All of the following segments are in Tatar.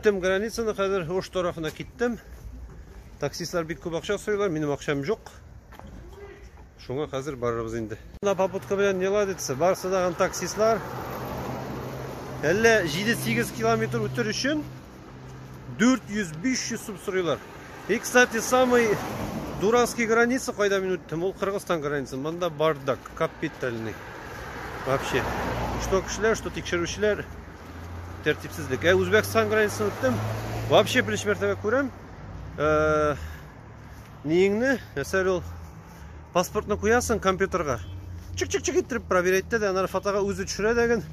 Үттем границаны, хәзер Ош тарафына киттем. Таксистлар бик күп акча сорыйлар, минем акчам юк. Шуңа хәзер барырбыз инде. Мына попутка белән не ладится, барысы да таксистлар. Әллә 7-8 километр үтер өчен 400-500 сум сорыйлар. И, кстати, самый Дуранский граница кайда мин үттем, ул Кыргызстан граница. Монда бардак, капитальный. Вообще. Что кешеләр, что тикшерүчеләр. тәртипсезлек. Ә Үзбәкстан границасын үттем. Вообще беренче мәртәбә күрәм. Э, Ниеңне, мәсәлән, ул паспортны куясың компьютерга. Чик-чик-чик иттереп проверять итә дә, аннары фотога үзе төшерә дә ген.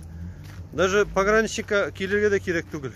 Даже пограничникка килергә дә кирәк түгел.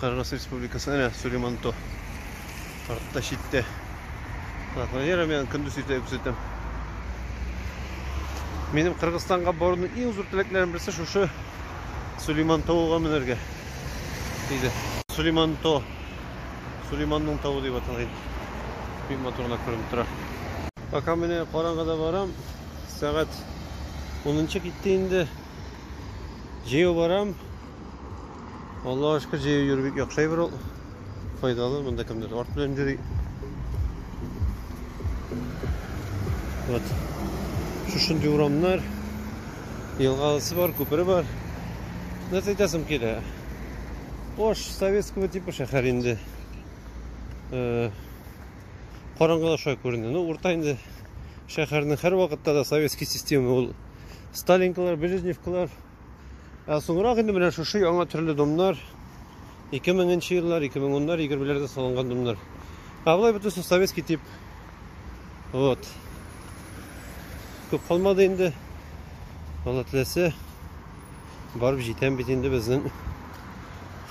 Кыргыз Республикасы, әнә Сулейманто. Артта читтә. Планера мен көндіз өйте күрсәтәм. Минем Кыргызстанга баруның иң зур теләкләрем берсе шушы Сулейман тавыга менәргә. Диде. Сулейман то. Сулейманның тавы дип аталган. Бик матурына күренеп тора. Пока менә караңгыда барам. Сәгать 10 китте инде. Җәяү барам. Аллаһ ашка җәю йөрү бик яхшы әйбер ул. Файдалы, монда кемдер арт белән йөри. Вот. Шушындый урамнар, елгалысы бар, күпере бар. Нәрсә әйтәсем килә? Ош советского типа шәһәр инде. Э, Караңгыда шулай күренде. Ну, урта инде шәһәрнең һәр вакытта да советский система ул. Сталинкалар, Брежневкалар, Ә соңрак инде менә шушы яңа төрле домнар 2000 нче еллар, 2010-лар, 20-ләрдә салынган домнар. Ә болай бөтенесе советский тип. Вот. Күп калмады инде. Алла теләсә, барып җитәм бит инде безнең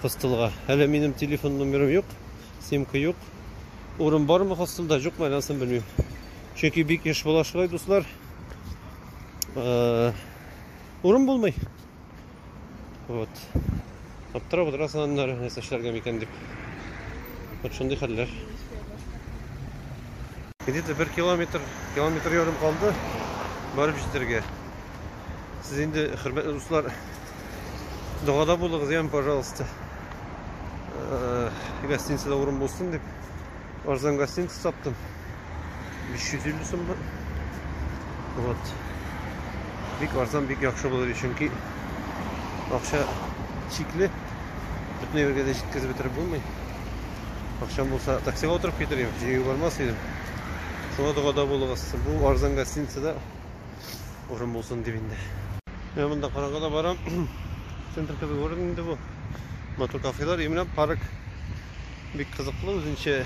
хостелга. Әле минем телефон номерым юк, симка юк. Урын бармы хостелда, юкмы, әлләсен белмим. Чөнки бик еш була шулай, дуслар. Э, Урын булмый. Вот. Аптырап отырасың аннары, нәрсә эшләргә микән дип. Вот шундый хәлләр. Где-то бер километр, километр ярым калды барып җитәргә. Сез инде, хөрмәтле дуслар, догада булыгыз, ям, пожалуйста. Э, гостиницада урын булсын дип, арзан гостиница таптым. 350 сум бу. Вот. Бик арзан, бик яхшы булыр, чөнки акча чикле. Бөтен җиргә дә җиткереп бетереп булмый. Акчам булса, таксига утырып китерим, җыю бармас идем. Шуңа догада булыгыз. Бу арзан гостиницада урын булсын дип инде. Мен монда караңгыда барам. Центр кебек урын инде бу. Матур кафелар, именно парк бик кызыклы үзенчә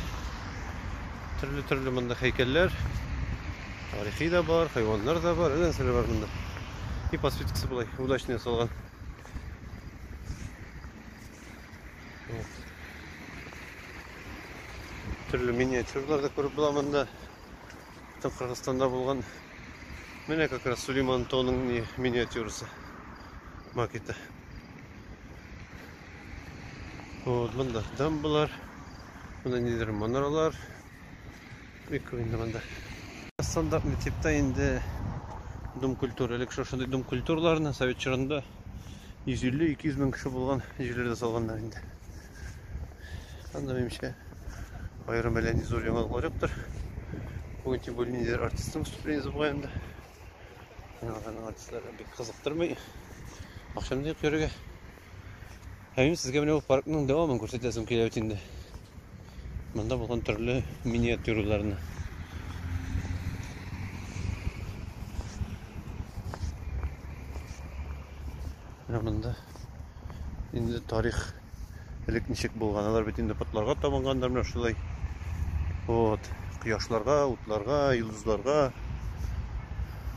Төрле-төрле монда хәйкәлләр. Тарихи да бар, хайваннар да бар, әллә нәрсәләр бар монда. И подсветкасы болай удачно ясалган. Вот. Төрле миниатюрлар да күреп була монда. Там Кыргызстанда булган менә как раз Сулейман Тонның миниатюрасы макеты. Вот, монда дамбалар, монда нидер манаралар. Бик күп инде монда. Астанда мектепта инде дом культуры, элек шушындый дом культураларны совет чорында 150-200 мең кеше булган җирләрдә салганнар инде. Анда менимчә аерым әллә нинди зур яңалыклар юктыр. Бүген тем более ниндидер артистның выступление булган инде. Яңадан артистлар бик кызыктырмый. Акчам да юк йөрергә. Ә мин сезгә менә ул паркның дәвамын күрсәтәсем килә бит инде. Монда булган төрле миниатюраларны. Менә монда инде тарих элек ничек булган. Алар бит инде потларга табынгандар менә шулай. Вот, кояшларга, утларга, йолдызларга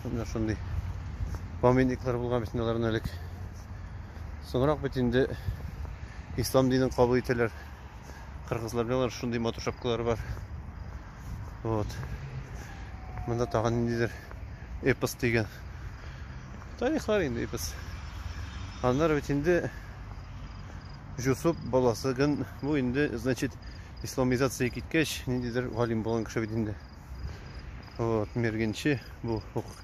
менә шундый памятниклар булган бит аларның элек. Соңрак бит инде ислам динен кабул итәләр. Кыргызлар белән шундый матур шапкалары бар. Вот. Монда тагын ниндидер эпос дигән. Тарихлар инде эпос. Аннары бит инде Жусуп баласы гын бу инде значит исламизация киткәч ниндидер галим булган кеше бит инде. Вот, мергенче бу хукук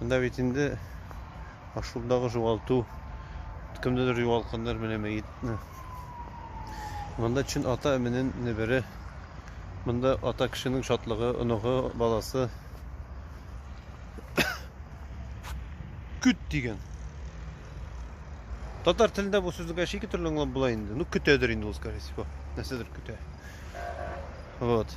Монда бит инде ашулдагы югалту, кемдедер югалтканнар менә мәетне. Монда чын ата эменен небере. Монда ата кешенең шатлыгы, оныгы, баласы. Күт дигән. Татар телендә бу сүзне кеше ике төрле аңлап була инде. Ну, көтәдер инде ул, скорее всего. Нәрсәдер көтә. Вот.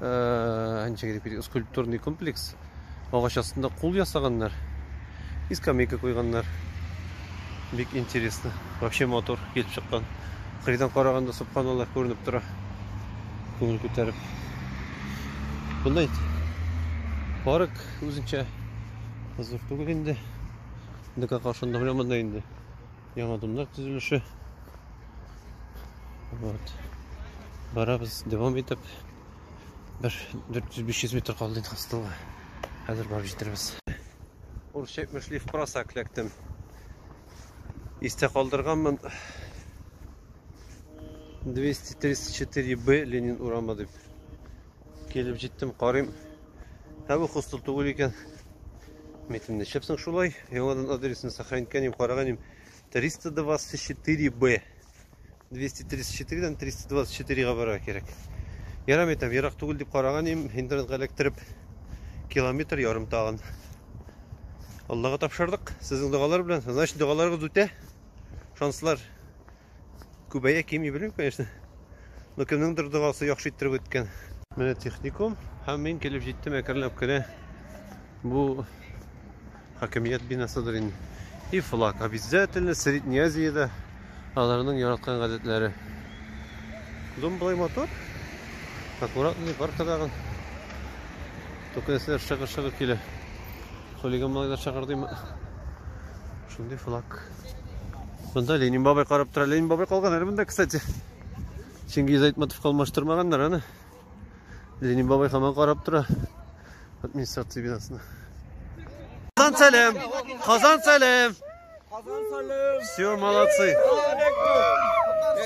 ничек дип китик, скульптурный комплекс. Агач астында кул ясаганнар. И скамейка куйганнар. Бик интересно. Вообще мотор килеп чыккан. Кырыйдан караганда субханаллах күренеп тора. Күңел күтәреп. Монда инде парк үзенчә зур түгел инде. Декака ошында белән монда инде. Яңа домнар төзелеше. Вот. Барабыз дәвам итеп. Бер 400-500 метр калды инде хостелга. Хәзер барып җитербез. Урысча әйтмешли в просак ләктем. Истә калдырганмын. 234Б Ленин урамы дип. Килеп җиттем, карыйм. Ә бу хостел түгел икән. Митем нишләпсең шулай? Яңадан адресны сохраниткәнем, караганым. 324Б. 234-дән 324-га барырга кирәк. Ярам итәм, ерак түгел дип караган идем, интернетка эләктереп километр ярым тагын. Аллага тапшырдык. Сезнең догалар белән, значит, догаларыгыз үтә. Шанслар Күбәя кими белмим, конечно. Но кемнеңдер догасы яхшы иттереп үткән. Менә техникум һәм мин килеп җиттем әкренләп кенә. Бу хакимият бинасыдыр инде. И флаг обязательно Средней Азиядә аларның яраткан гадәтләре. Дом былай мотор. Аккуратный паркадагы. Только нәрсәләр шыгы-шыгы килә. Хулиган малайлар чакырдыйм. Шундый флаг. Монда Ленин бабай карап тора. Ленин бабай калган әле монда, кстати. Чингиз Айтматов калмаштырмаганнар аны. Ленин бабай хаман карап тора. Администрация бинасына. Казан сәлем! Казан сәлем! Казан сәлем! Все, молодцы!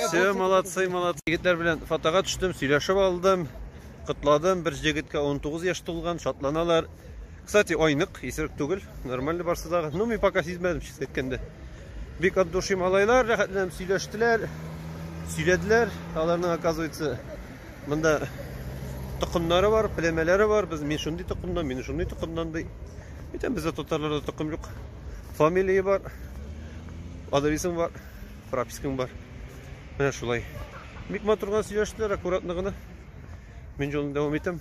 Все, молодцы, молодцы. Егетләр белән фотога төштем, сөйләшеп алдым, котладым. Бер җегеткә 19 яшь тулган, шатланалар. Кстати, айнык, исерек түгел. Нормально барсы да. Ну, мин пока сизмәдем, честно әйткәндә. Бик от души малайлар, рәхәтләнеп сөйләштеләр. Сөйләделәр. Аларның, оказывается, монда токымнары бар, племәләре бар. Без мин шундый токымдан, мин шундый токымдан ди. Битәм бездә татарларда токым юк. Фамилия бар. Адресың бар, пропискаң бар. Менә шулай. Бик матурга сөйләштеләр, аккуратно гына. Мин җолны дәвам итәм.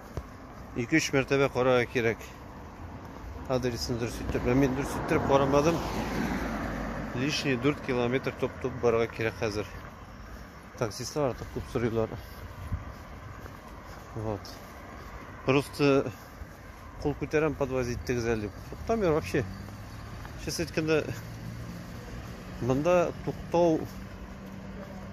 2-3 мәртәбә карарга кирәк. Адресны дөрес итеп, мин дөрес итеп карамадым. Лишний 4 километр топ-топ барга кирәк хәзер. Таксистлар артык күп сорыйлар. Вот. Просто кул күтәрәм подвозить иттегез әле дип. Туктамыйм вообще. Честно әйткәндә, монда туктау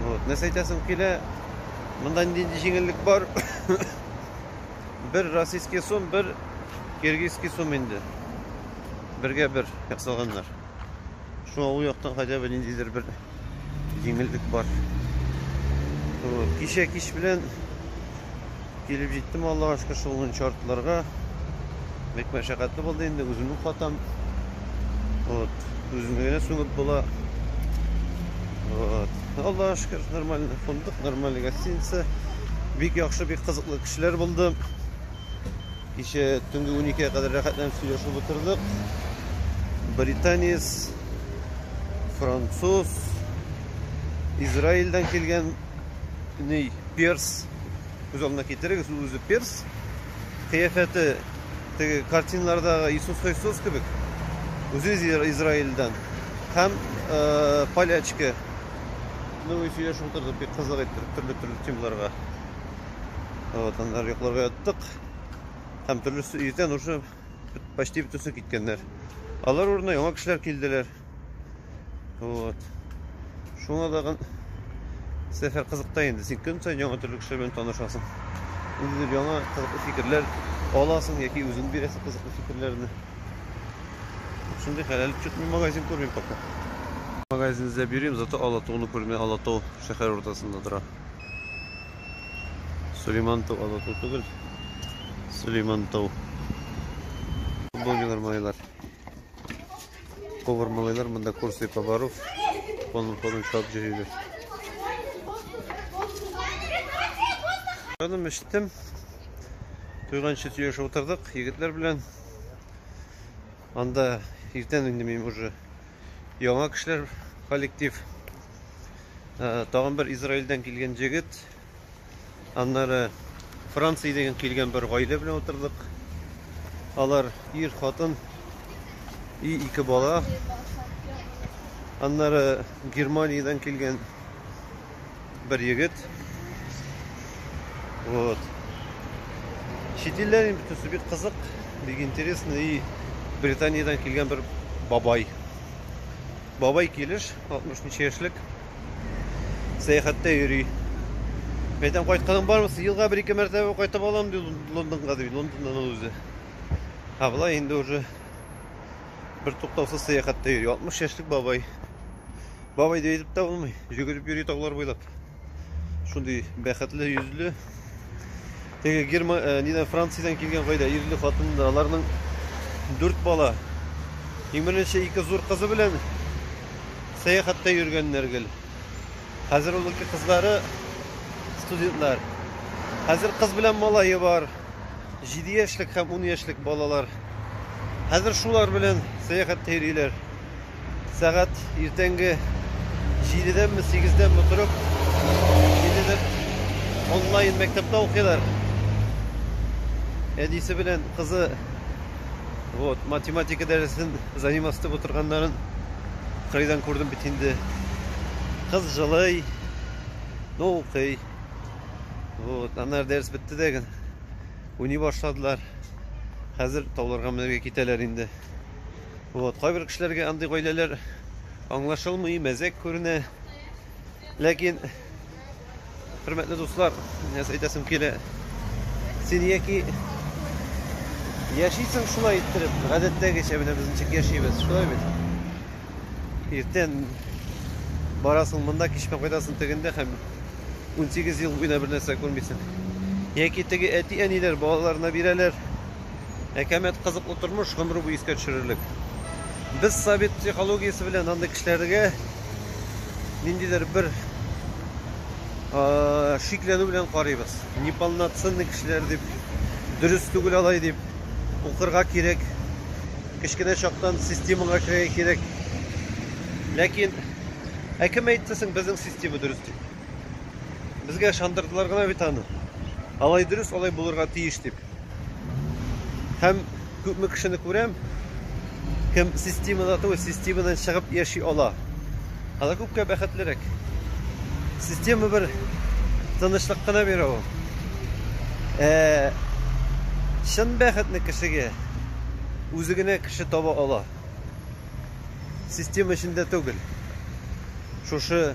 Вот, нәрсә әйтәсем килә, монда нинди җиңеллек бар? бер российский сум, бер киргизский сум инде. Бергә бер ясалганнар. Шуңа ул яктан хотя бы ниндидер бер җиңеллек бар. Вот, кичә кич белән Килеп җиттем, Аллага шөкер, шул гын шартларга. Бик мәшәкатьле булды инде, үземнең хатам. Вот, үземне генә сүгеп була. Вот. Аллага шөкер, нормально фондык, нормально гостиница. Бик яхшы, бик кызыклы кешеләр булды. Кичә төнге 12-гә кадәр рәхәтләнеп сөйләшеп утырдык. Британец, француз, Израильдән килгән ни перс күз алдына китерегез, ул үзе перс. Кыяфәте теге картиналардагы Иисус Христос кебек. Үзе Израильдан. Һәм э, полячка. Ну, сөйләшеп утырдык бик кызык иттереп төрле-төрле темаларга. Вот, аннары йокларга яттык. Һәм төрлесе иртән уже почти бөтенесе киткәннәр. Алар урынына яңа кешеләр килделәр. Вот. Шуңа тагын сәфәр кызыкта инде. Син көн саен яңа төрле кешеләр белән танышасың. Ниндидер яңа кызыклы фикерләр аласың яки үзең бирәсең кызыклы фикерләрне. Шундый хәләл чөтми магазин күрмим пока. Магазин эзләп йөрим, зато Алатауны күрми. Алатау шәһәр уртасында тора. Сулейман тау Алатау түгел. Сулейман тау. Футбол майылар. Повар малайлар монда курслы поваров полным ходом чабып йөриләр. Җаным эчтем. Туйганчы сөйләшеп утырдык егетләр белән. Анда иртән инде мин уже яңа кешеләр коллектив. Э, тагын бер Израильдән килгән җегет Аннары Франциядән килгән бер гаилә белән утырдык. Алар ир, хатын и ике бала. Аннары Германиядән килгән бер егет. Вот. Чит илләр бөтенесе бик кызык, бик интересно и Британиядән килгән бер бабай. Бабай килеш 60 ничә яшьлек. сәяхәттә йөри. Мен әйтәм, кайтканың бармы? Елга бер-ике мәртәбә кайтып алам, ди Лондонга, ди Лондоннан ул үзе. Ә болай инде уже бер туктаусыз сәяхәттә йөри. 60 яшьлек бабай. Бабай дип әйтеп тә булмый. Йөгереп йөри таулар буйлап. Шундый бәхетле йөзле, Теге Герма, э, нидән Франциядән килгән гаилә, ирле хатынлы, аларның дүрт бала. Иң беренче ике зур кызы белән сәяхәттә йөргәннәр гел. Хәзер ул ике кызлары студентлар. Хәзер кыз белән малае бар. 7 яшьлек һәм 10 яшьлек балалар. Хәзер шулар белән сәяхәттә йөриләр. Сәгать иртәнге җидедәнме, сигездәнме торып, ниндидер онлайн мәктәптә укыйлар. Әнисе белән кызы вот математика дәресен заниматься итеп утырганнарын кырыйдан күрдем бит инде. Кыз җылый, но укый. Вот, аннары дәрес бетте дә генә уйный башладылар. Хәзер тауларга менәргә китәләр инде. Вот, кайбер кешеләргә андый гаиләләр аңлашылмый, мәзәк күренә. Ләкин, хөрмәтле дуслар, нәрсә әйтәсем килә, син яки яшисең шулай иттереп, гадәттәгечә менә без ничек яшибез, шулай бит. Иртән барасың монда, кичмә кайтасың тегендә һәм 18 ел буена бер нәрсә күрмисең. Яки теге әти-әниләр балаларына бирәләр. әкәмәт кызыклы тормыш гомере буе искә төшерерлек. Без совет психологиясе белән андый кешеләргә ниндидер бер шикләнү белән карыйбыз. Неполноценный кешеләр дип, дөрес түгел алай дип, укырга кирәк. Кечкенә чактан системага керергә кирәк. Ләкин ә кем әйтте соң безнең система дөрес дип? Безгә шандырдылар гына бит аны. Алай дөрес, алай булырга тиеш дип. Һәм күпме кешене күрәм, кем системада түгел, системадан чыгып яши ала. Алар күпкә бәхетлерәк. Система бер тынычлык кына бирә ул. Ә чын бәхетне кешегә үзе генә кеше таба ала. Система эчендә түгел. Шушы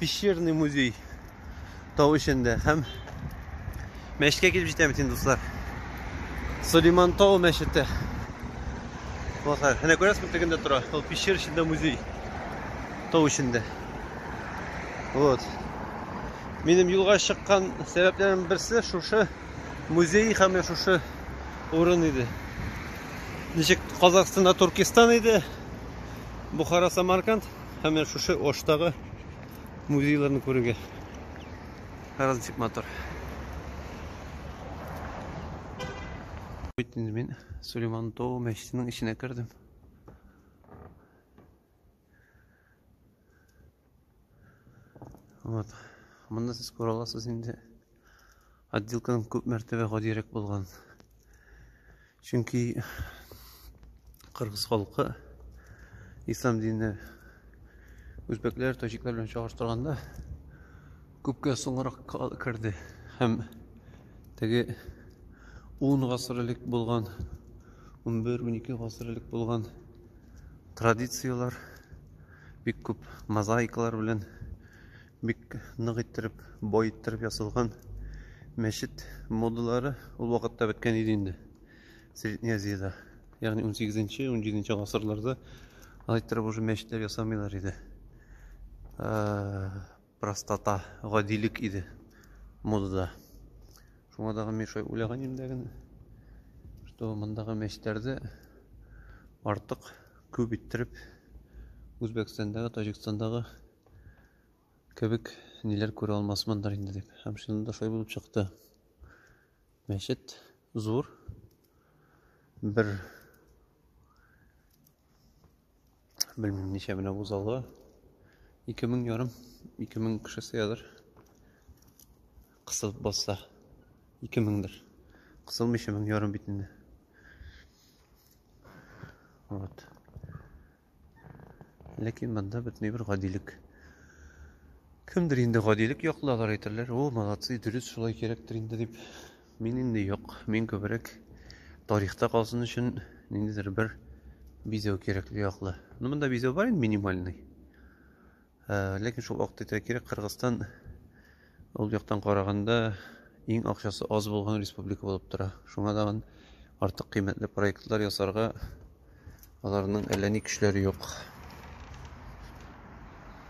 Пещерный музей тау эчендә һәм мәчеткә килеп җитәбез инде, дуслар. Сулейман тау мәчете. Дуслар, әнә күрәсезме тегендә тора? Ул пещер эчендә музей. Тау эчендә. Вот. Минем юлга чыккан сәбәпләрем берсе шушы музей һәм шушы урын иде. Ничек Казахстанда Туркестан иде, Бухара Самарканд. Һәм менә шушы Оштагы музейларны күрергә. Һәраз ничек матур. Бит инде мин Сулейман Тау мәчетенең эченә кердем. Вот. Монда сез күрә аласыз инде. отделканың күп мәртәбә гадирәк булган. Чөнки кыргыз халкы ислам диненә үзбәкләр, таҗиклар белән чагыштырганда күпкә соңрак керде һәм теге 10 гасыр элек булган 11-12 гасыр элек булган традицияләр бик күп мозаикалар белән Бик нык иттереп, бай иттереп ясалган мәчет модалары ул вакытта беткән иде инде. Средняя Азиядә. Ягъни 18-нче, 17-нче гасырларда алай иттереп уже мәчетләр ясамыйлар иде. Простота, гадилек иде модада. Шуңа дагы мин шулай уйлаган идем дә генә, что мондагы мәчетләрдә артык күп иттереп Үзбәкстандагы, Таҗикстандагы кебек ниләр күрә алмасмындыр инде дип. Һәм чынында да шулай булып чыкты. Мәчет зур. Бер белмим ничә менә бу залы. 2000 ярым, 2000 кеше сыядыр. Кысылып басса 2000дер. Кысылмыйча 1000 ярым бит инде. Вот. Ләкин монда бөтенләй бер гадилек. Кемдер инде гадилек яклы, алар әйтерләр, о, молодцы, дөрес шулай кирәктер инде дип. Мин инде юк, мин күбрәк тарихта калсын өчен ниндидер бер бизәү кирәкле яклы. Ну, монда бизәү бар инде минимальный. Ә, ләкин шул вакытта әйтергә кирәк, Кыргызстан ул яктан караганда иң акчасы аз булган республика булып тора. Шуңа тагын артык кыйммәтле проектлар ясарга аларның әллә ни көчләре юк.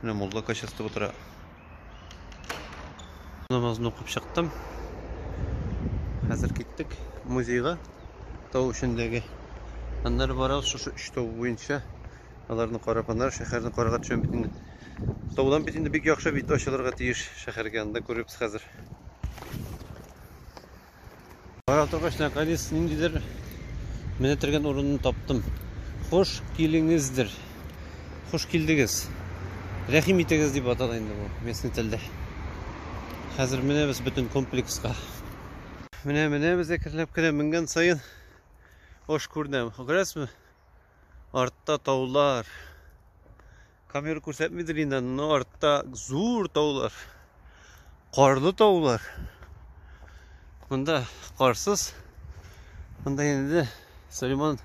Менә мулла качастып утыра. Намазны укып чыктым. Хәзер киттек музейга. Тау эчендәге. Аннары барабыз шушы өч тау буенча. Аларны карап, аннары шәһәрне карарга төшәм бит инде. Таудан бит инде бик яхшы бит ачылырга тиеш шәһәргә. Анда күрербез хәзер. Карап торгач, наконец ниндидер менә тергән урынны таптым. Хуш килеңездер. Хуш килдегез. Рәхим итегез дип атала инде бу местный телдә. Хәзер менәбез бөтен комплекска. Менә менәбез әкренләп кенә менгән саен ош күренә. Күрәсезме? Артта таулар. Камера күрсәтмидер инде, но артта зур таулар. Карлы таулар. Монда карсыз. Монда инде Сөлейман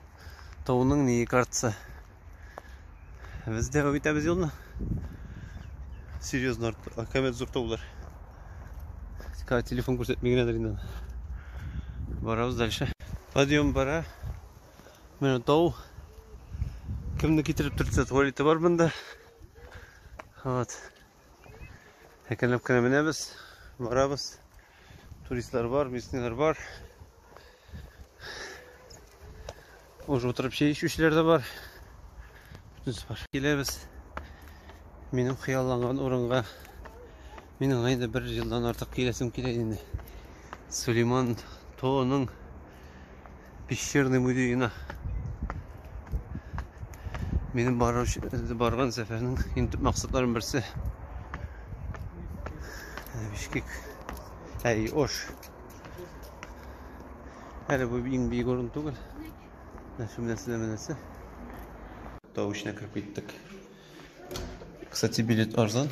тауының ни картасы. Без дәвам итәбез юлны. Серьезно, камера зур таулар. Телефон күрсәтми генәдер инде. Барабыз дальше. Подъем бара. Менә тау. Кемне китереп төртсә, туалеты бар монда. Вот. Әкренләп кенә менәбез, барабыз. Туристлар бар, местныйлар бар. Уже отырып чәй эчүчеләр дә бар. Бөтенесе бар. Киләбез. Минем хыялланган урынга Мин аңа инде бер елдан артык киләсем килә инде. Сулейман Тоның пещерный музеена. Минем баруш, барган сәфәрнең иң төп максатларының берсе. Ә, Бишкек. Әй, ош. Әле бу иң бик урын түгел. Нәрсә менәсе дә менәсе. Тау эченә кереп киттек. Кстати, билет арзан.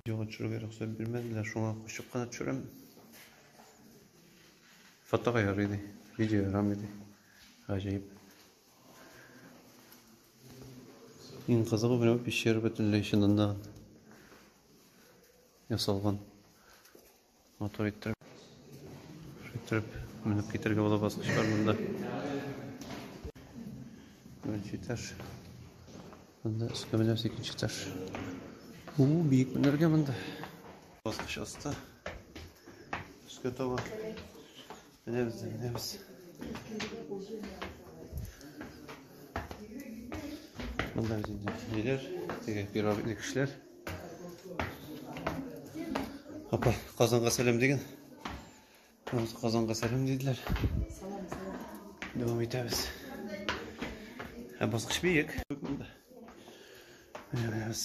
Видеога төшерергә рөхсәт бирмәделәр, шуңа кочып кына төшерәм. Фотога ярый ди, видео ярамый ди. Гаҗәеп. Иң кызыгы менә бу пещера бөтенләй чыннан да ясалган. Матур иттереп. Шиттереп менеп китергә була баскычлар монда. Беренче этаж. Монда өскә менәбез икенче этаж. У, биек менәргә монда. Баскыч аста. Өскә таба. Менәбез, менәбез. Монда без инде ниләр? Теге пирожный кешеләр. Апа, Казанга сәлам диген. Ул Казанга сәлам диделәр. Салам, салам. Дәвам итәбез. Ә баскыч биек. Менәбез.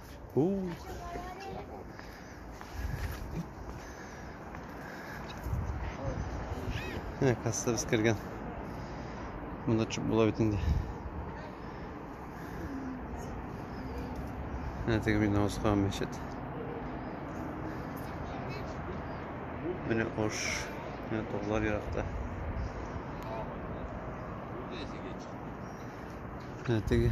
Ууу. Әне кассада без кергән. Монда чүп була бит инде. Әне теге бина узган мәчет. Менә ош. Менә тоглар еракта. Әне теге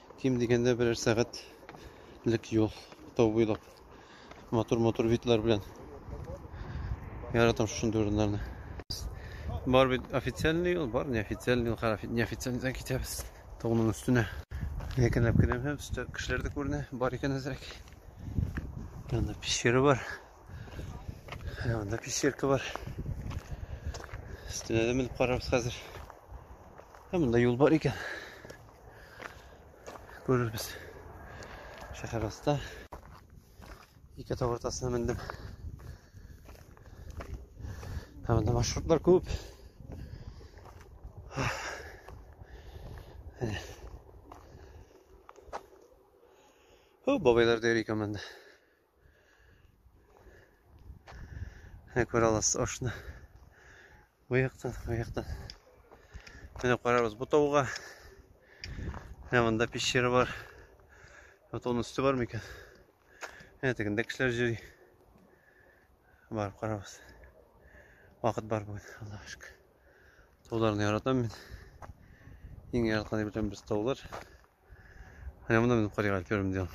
Ким дигәндә берәр сәгатьлек юл тау буйлап. Матур-матур видлар белән. Яратам шушындый урыннарны. Бар бит официальный юл, бар неофициальный юл, һәр неофициальныйдан китәбез. Тауның өстенә. Якынлап киләм һәм өстә кешеләр дә күренә, бар икән әзрәк. Анда пещера бар. Анда пещерка бар. Өстенә дә менеп карарбыз хәзер. Һәм монда юл бар икән. Күрербез. Шәһәр аста. Ике тау уртасына мендем. Ә монда маршрутлар күп. О, бабайлар да йөри икән монда. Менә күрә аласыз ашны. Бу яктан, бу яктан. Менә карарбыз бу тауга. Менә монда пещера бар. Вот он үсте бар микән? Менә тегендә кешеләр йөри. Бар, карабыз. Вакыт бар бүген, Аллаһ шөкер. Тауларны яратам мин. Иң яраткан дип беләм без таулар. Менә монда мин карыйга өлкерем дигән.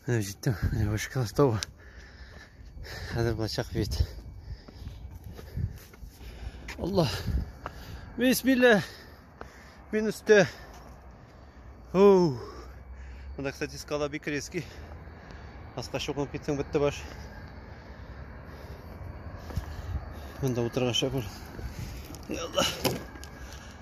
Менә җиттем, менә вышкалас тау. Хәзер булачак вид. Алла. Бисмилла. Мин өстә. Оу. Монда, кстати, скала бик резкий. Аска чукынып китсәң бетте баш. Монда утырган шәкүр. Алла.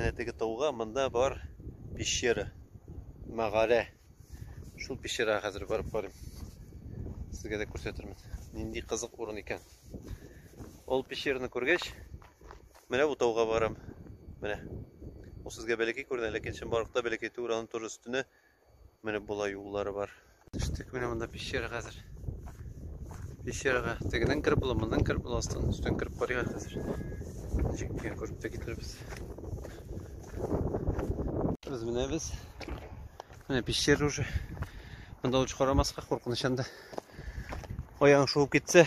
Әнә теге тауга монда бар пещера. Мәгарә. Шул пещерага хәзер барып карыйм. Сезгә дә күрсәтермен. Нинди кызык урын икән. Ул пещераны күргәч, менә бу тауга барам. Менә. Ул сезгә бәләкәй күренә, ләкин чынбарлыкта бәләкәй түгел, аның тоже өстенә Менә болай юллары бар. Төштек менә монда пещера хәзер. Пещерага тегеннән кереп була, моннан кереп була, астан өстен кереп карыйга хәзер. Ничек икән күреп тә китербез. Без менә без. Менә пещера уже. Монда лучше карамаска, куркыныч анда. Аяң шуып китсә,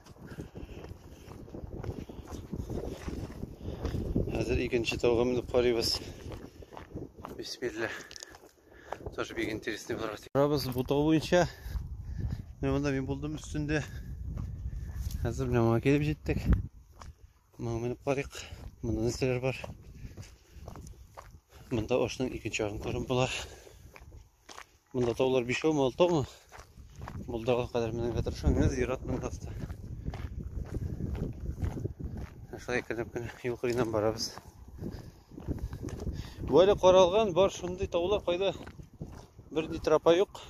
Хәзер икенче тауга менеп карыйбыз. Бисмилла. Тоже бик интересный булыр. Барабыз бу тау буенча. Менә монда мин булдым өстендә. Хәзер менә моңа килеп җиттек. Моңа менеп карыйк. Монда нәрсәләр бар? Монда ашның икенче ягын күреп була. Монда таулар бишәү ме, алты ме? Булдыга кадәр менәргә тырышам. Менә зират монда аста. Шулай кереп кенә юл кырыеннан барабыз. Бу әле каралган бар шундый таулар кайда бер ни тропа юк.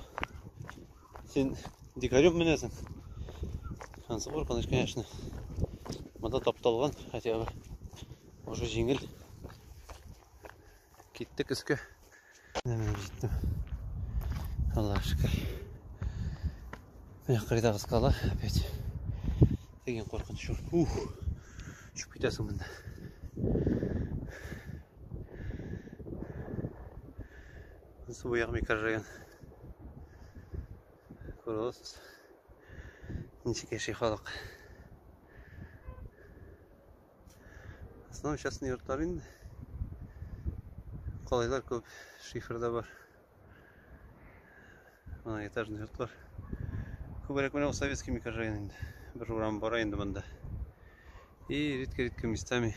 Син дикарем менәсең. Ансы бур каныш конечно. Монда тапталган хотя бы. Уже җиңел. Киттек өскә. Менә менеп җиттем. Аллаһ шөкер. Менә кырыйдагы скала опять. Деген куркыныч шул. Ух! Төшеп китәсең монда. Су буяк микрорайон. Күрәсез. Ничек яши халык. Основном частный йортлар инде. Калайлар күп, шифер да бар. Мына этажный йортлар. Күбрәк менә советский микрорайон инде. Бер урам бара инде монда. И редко-редко местами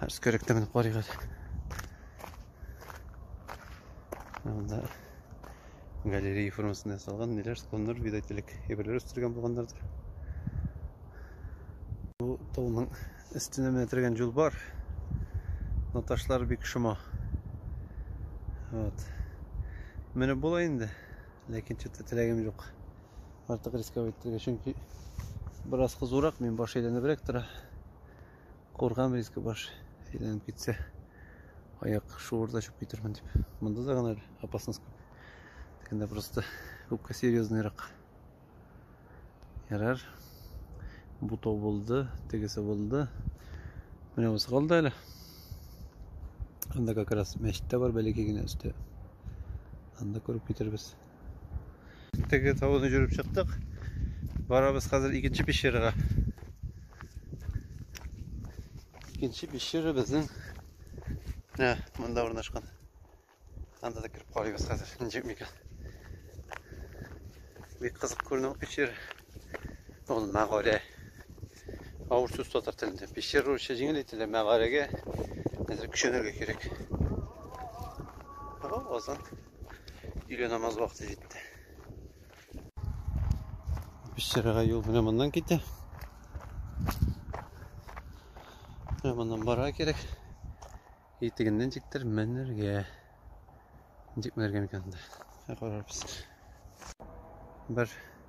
Һәр скөректә менеп карыйгыз. Анда галерея формасында ясалган ниләр склоннар видать элек әйберләр үстергән булганнардыр. Бу тауның өстенә менә тергән юл бар. Но ташлар бик шома. Вот. Менеп була инде, ләкин чөтә теләгем юк. артык рисковать итәргә, чөнки бераз кызурак, мин баш әйләнебрәк тора. Куркам риск баш әйләнеп китсә, аяк шуырда чүп китермен дип. Монда да гына опасность күп. Тегендә просто күпкә серьезныйрак. Ярар. Бу тау булды, тегесе булды. Менә бусы калды әле. Анда как раз мәчет тә бар, бәләкәй генә өсте. Анда күреп китербез. Теге тауны жүріп чыктык. Барабыз хәзер икенче пещерага. Икенче пещера безнең ә, монда урнашкан. Анда да кереп карыйбыз хәзер. Ничек микән? Бик кызык күренә пещера. Ул мәгарә. Авыр сүз татар телендә. Пещера русча җиңел әйтелә, мәгарәгә әзер көчәнергә кирәк. Ага, азан. Өйлә намаз вакыты җитте. Пешерәгә юл менә моннан китә. Менә моннан бара кирәк. Итегеннән тиктер менергә. Ничек менергә микән анда? Карарбыз. Бер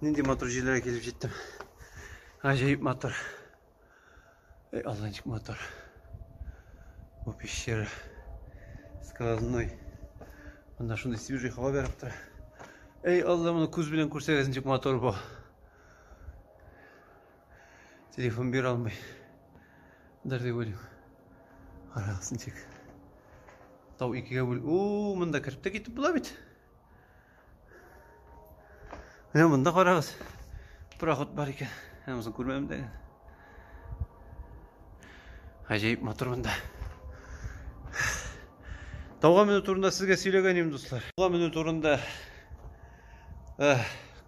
Нинди матур җилләргә килеп җиттем. Гаҗәеп матур. Эй, Алла ничек матур. Бу пещера. Сквозной. Монда шундый свежий һава бәреп тора. Эй, Алла, моны күз белән күрсәгез ничек матур бу. Телефон бир алмый. Дәр дип уйлыйм. Карагыз ничек. Тау икегә бүл. О, монда кереп тә китеп була бит. Менә монда карагыз. Проход бар икән. Ә мосын күрмәдем дә. Гаҗәеп матур монда. Тауга менү турында сезгә сөйләгән идем, дуслар. Тауга менү турында э,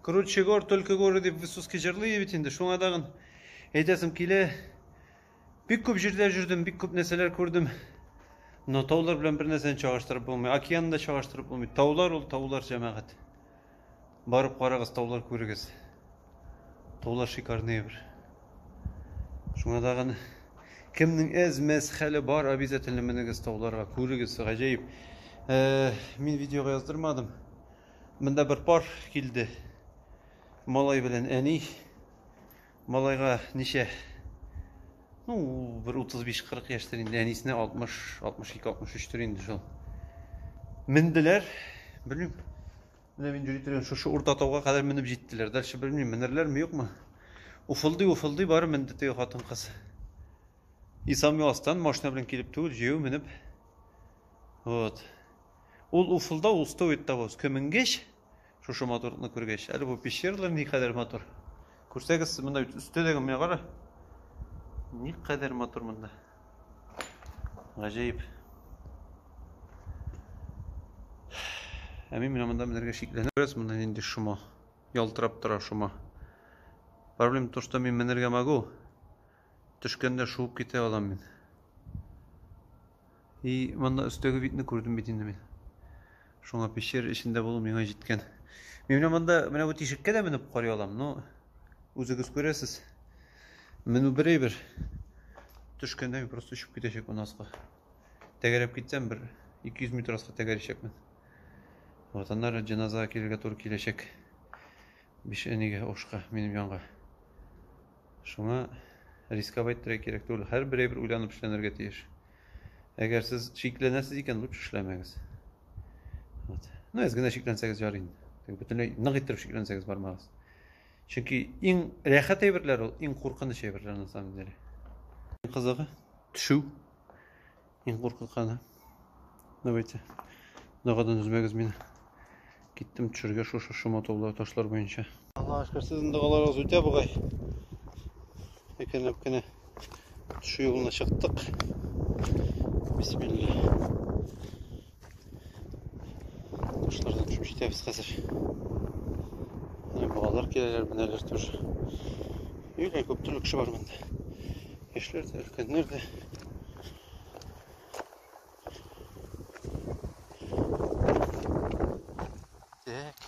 Круче гор, только горы дип Высоцкий җырлый бит инде. Шуңа дагын әйтәсем килә. Бик күп җирдә жүрдем, бик күп нәрсәләр күрдем. Но таулар белән бер нәрсәне чагыштырып булмый. Океан да чагыштырып булмый. Таулар ул таулар җәмәгать. Барып карагыз, таулар күрегез. Таулар шикарный бер. Шуңа тагын кемнең әз мәз хәле бар, обязательно менегез тауларга, күрегез, гаҗәеп. Э, мин видеога яздырмадым. Монда бер пар килде. Малай белән әни. Малайга ничә? Ну, бер 35-40 яшьтер инде, әнисенә 60, 62-63 төр инде шул. Менделәр, белмим. Менә мин йөри торган шушы урта тауга кадәр менеп җиттеләр. Дальше белмим, менерләрме, юкмы? Уфылдый, уфылдый бары менде теге хатын-кыз. Исами астан машина белән килеп түгел, җәяү менеп. Вот. Ул уфылда, ул стоит того, көменгеч. Шушы матурлыкны күргәч, әле бу пещералар ни кадәр матур. Күрсәгез, монда бит өстә дә менә кара. Ни кадәр матур монда. Гаҗәеп. Ә мин менә монда менәргә шикләнәм. Күрәсез, монда нинди шома. Ялтырап тора шома. Проблема то, что мин менәргә могу. Төшкәндә шуып китә алам мин. И, монда өстәге видны күрдем бит инде мин. Шуңа пещера эчендә булу миңа җиткән. Мин менә монда, менә бу тишеккә дә менеп карый алам, но үзегез күрәсез. Менү бер әйбер. Төшкәндә мин просто очып китәчәк монда аска. Тәгәрәп китсәм, бер 200 метр аска тәгәрәчәкмен. Вот аннары җеназага килергә туры киләчәк. Биш энегә ошка минем янга. Шуңа рисковать итәргә кирәк түгел. Һәрбер әйбер уйланып эшләнергә тиеш. Әгәр сез шикләнәсез икән, лучше эшләмәгез. Вот. Ну, әз генә шикләнсәгез ярый инде. Бөтенләй нык иттереп шикләнсәгез бармагыз. Чөнки иң рәхәт әйберләр ул, иң куркыныч әйберләр на самом деле. Кызыгы төшү. Мин куркытканы. Давайте. Дагадан үзмәгез мин. Киттем төшергә шушы шома тулы ташлар буенча. Аллаһ шөкер, сезнең дагаларыгыз үтә бугай. Икенләп кенә төшү юлына чыктык. Бисмилла. Кошлардан төшеп җитәбез хәзер. Менә балалар киләләр, менәләр тоже. Юлә күп төрле кеше бар монда. Яшьләр дә, өлкәннәр дә. Так.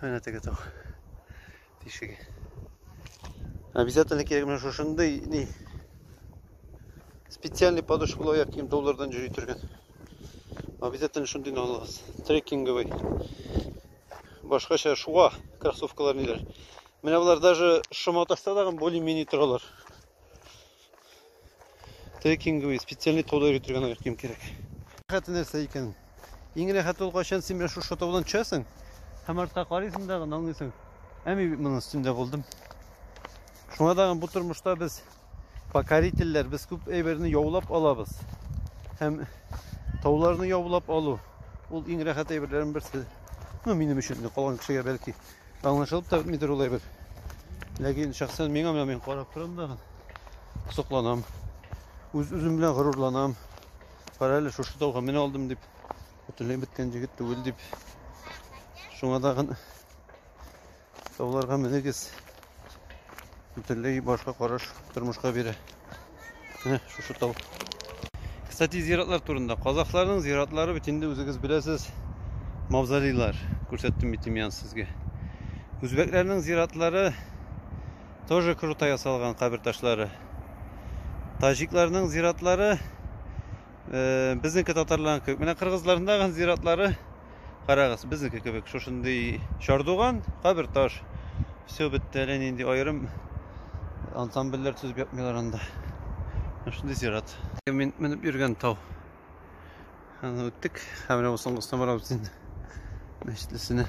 Менә теге тау тишеге. Обязательно кирәк менә шушындый ни специальный подушкалы аяк кием таулардан йөри торган. Обязательно шундыйны алыгыз. Трекинговый. Башкача шуа кроссовкалар ниләр. Менә болар даже шома тастадагы более-менее торалар. Трекинг буе специальный тауда йөртелгән аяк кием кирәк. Хәтта нәрсә икән? Иң рәхәт ул кайчан син менә шушы таудан төшәсең һәм артка карыйсың да гына аңлыйсың. Ә мин моның өстендә булдым. Шуңа да бу тормышта без покорительләр, без күп әйберне яулап алабыз. Һәм тауларны яулап алу ул иң рәхәт әйберләрнең берсе. Ну, минем өчен, калган кешегә бәлки Аңлашылып та бетмидер ул әйбер. Ләкин шәхсән миңа менә мин карап торам да сокланам. Үз үзем белән горурланам. Кара әле шушы тауга менә алдым дип. Бөтенләй беткән җегет түгел дип. Шуңа тагын тауларга менегез. Бөтенләй башка караш тормышка бирә. Менә шушы тау. Кстати, зиратлар турында. Казахларның зиратлары бит инде үзегез беләсез, мавзолейлар. Күрсәттем бит имян сезгә. Үзбәкләрнең зиратлары тоже круто ясалган кабер ташлары. Таҗикларның зиратлары Э, безнеке татарларның кебек менә кыргызларның зиратлары карагыз безнеке кебек шушындый чардуган кабер таш все бетте әле нинди аерым ансамбльләр төзеп ятмыйлар анда шундый зират мин менеп йөргән тау аны үттек һәм менә бу соңгысына барабыз инде мәчетлесенә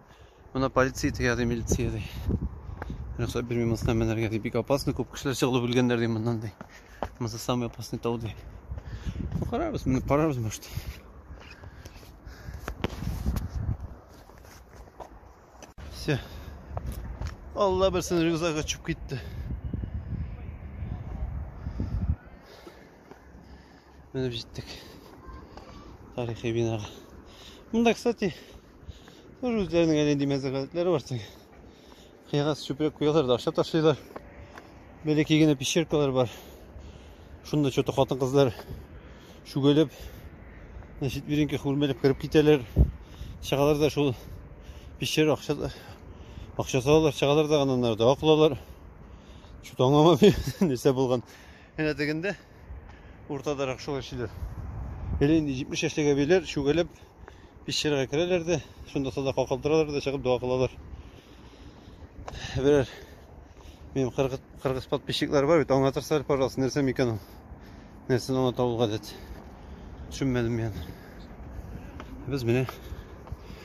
Мына полиция тегә ди, милиция ди. Рөхсәт бирми монысына менәргә ди. Бик опасно, күп кешеләр чыгылып үлгәннәр ди моннан ди. Монысы самый опасный тау ди. Ну, карарбыз, менеп карарбыз, может. Все. Алла берсен рюкзак очып китте. Менеп җиттек. Тарихи бинага. Мында, кстати, Тоже үзләренең әле нинди мәзәк гадәтләре бар теге. Кыягаз чүпрәк куялар да аша ташлыйлар. Бәләкәй генә пещеркалар бар. Шунда что-то хатын-кызлар чүгәләп, на четвереньках үрмәләп кереп китәләр. Чагалар да шул пещер акча акча салалар, чагалар да аннан да акылалар. Что-то аңламам нәрсә булган. Әнә тегендә уртадарак шул эшлиләр. Әле инде 70 яшьтәге билер чүгәләп пещерага керәләр дә, шунда сада калкалдыралар да чыгып дога кылалар. Берәр минем кыргыз кыргыз подписчиклар бар бит, аңлатырсызлар, пожалуйста, нәрсә микән ул? Нәрсәне аңлата ул гадәт? Төшенмәдем мин. Без менә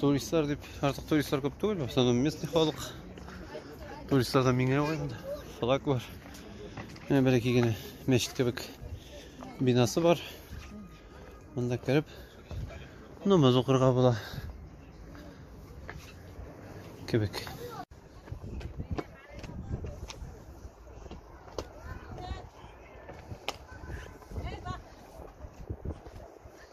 Туристлар дип, артык туристлар күп түгел, в основном местный халык. Туристлар да миңа ғой монда. Флаг бар. Менә бәләкәй генә мәчет кебек бинасы бар. Монда кереп намаз укырга була. Кебек.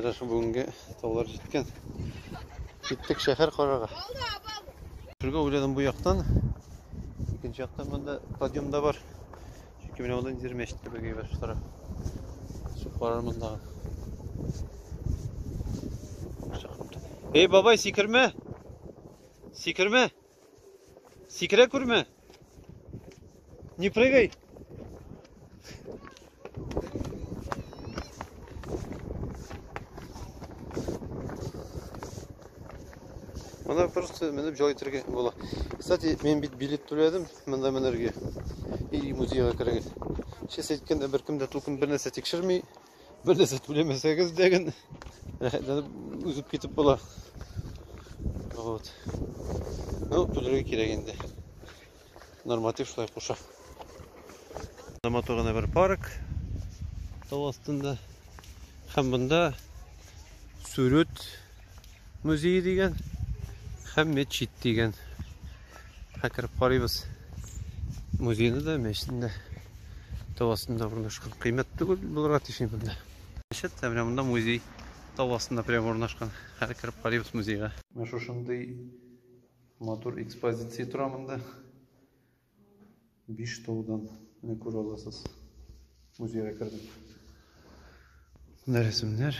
Әдә шул бүгенге таулар җиткән. Киттек шәһәр карарга. Шуга уйладым бу яктан. Икенче яктан монда подъем да бар. Чөнки менә монда ниндидер мәчет кебек әйбәт шул тарап. Шул карар мондагы. Эй, бабай, сикермә! Сикермә! Сикерә күрмә. Не прыгай. Ана просто менеп җай итәргә була. Кстати, мин бит билет түләдем монда менәргә и музейга керергә. Чис әйткәндә беркем дә тулкын бернәрсә тикшерми, Бер нәрсә түләмәсәгез дә генә рәхәтләнеп узып китеп була. Вот. Ну, түләргә кирәк инде. Норматив шулай куша. Матур гына бер парк тау астында. Һәм монда сүрүт Музей дигән һәм мәчет дигән. Хәкереп карыйбыз. Музейны да, мәчетне дә тау астында урнашкан. Кыйммәт түгел булырга тиеш монда. Мәчет тә менә монда музей тау астында прямо урнашкан. Хәзер кереп карыйбыз музейга. Менә шушындый матур экспозиция тора монда. Биш таудан менә күрә аласыз. Музейга кердем. Менә рәсемнәр,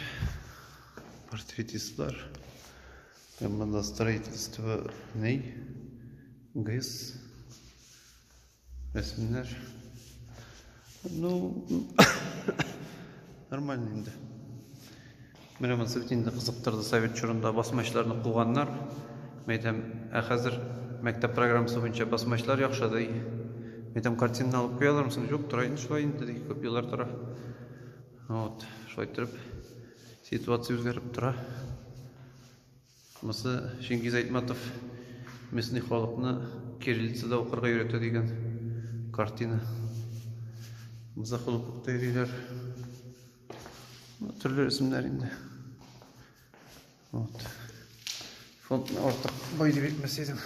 портретистлар. Һәм монда строительство ней, ГЭС, рәсемнәр. Ну, нормально инде. Менә монсы бит инде кызыктырды совет чорында басмачларны куганнар. Мәйтәм, ә хәзер мәктәп программасы буенча басмачлар яхшыдый. Мәйтәм картина алып куялармсың? Юк, тора инде шулай инде ди, күп еллар тора. Вот, шулай торып ситуация үзгәреп тора. Шунысы Ченгиз Айтматов Местный халыкны кириллицада укырга өйрәтә дигән картина. Муза холыклыкта йөриләр. Төрле рәсемнәр инде. Вот. Фондны артык бай дип әйтмәс идем.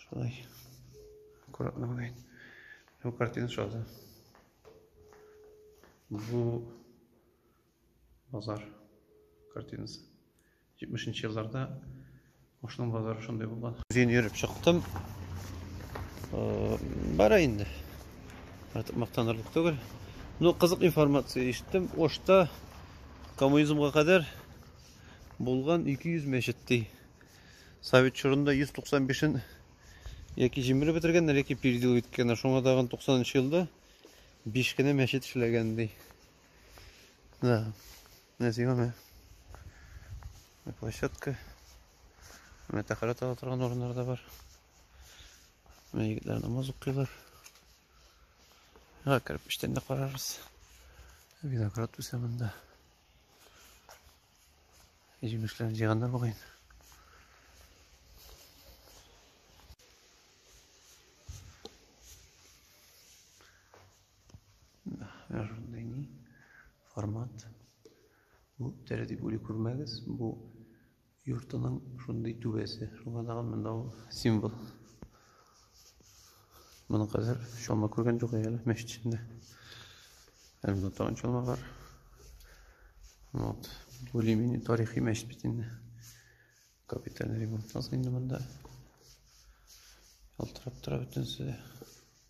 Шулай. Аккуратно гына әйт. Бу картина шалды. Бу Базар картинасы. 70 нче елларда Ошның базары шундый булган. Үзен йөреп чыктым. Бара инде. Артык мактанырлык түгел. Ну, кызык информация ишеттем. Ошта коммунизмга кадәр булган 200 мәчет ди. Совет чорында 195-ен яки җимереп бетергәннәр, яки передел иткәннәр. Шуңа тагын 90 нчы елда 5 кенә мәчет эшләгән ди. Да, наземная площадка. Менә тәхәрәт ала торган урыннар да бар. Менә егетләр намаз укыйлар. Га кирпичтән дә карарбыз. Виноград үсә монда. Җимешләрен җыйганнар бугай. Ошондыйни формат. Бу тәрәтип ули күрмәгез. Бу йортының шундый түбәсе. Шуңа тагын монда ул символ. Моны хәзер чалма күргән юк әле мәчет эчендә. Әле монда тагын чалма бар. Вот. Более-менее тарихи мәчет бит инде. Капитальный ремонт инде монда. Ялтырап тора бөтенесе дә.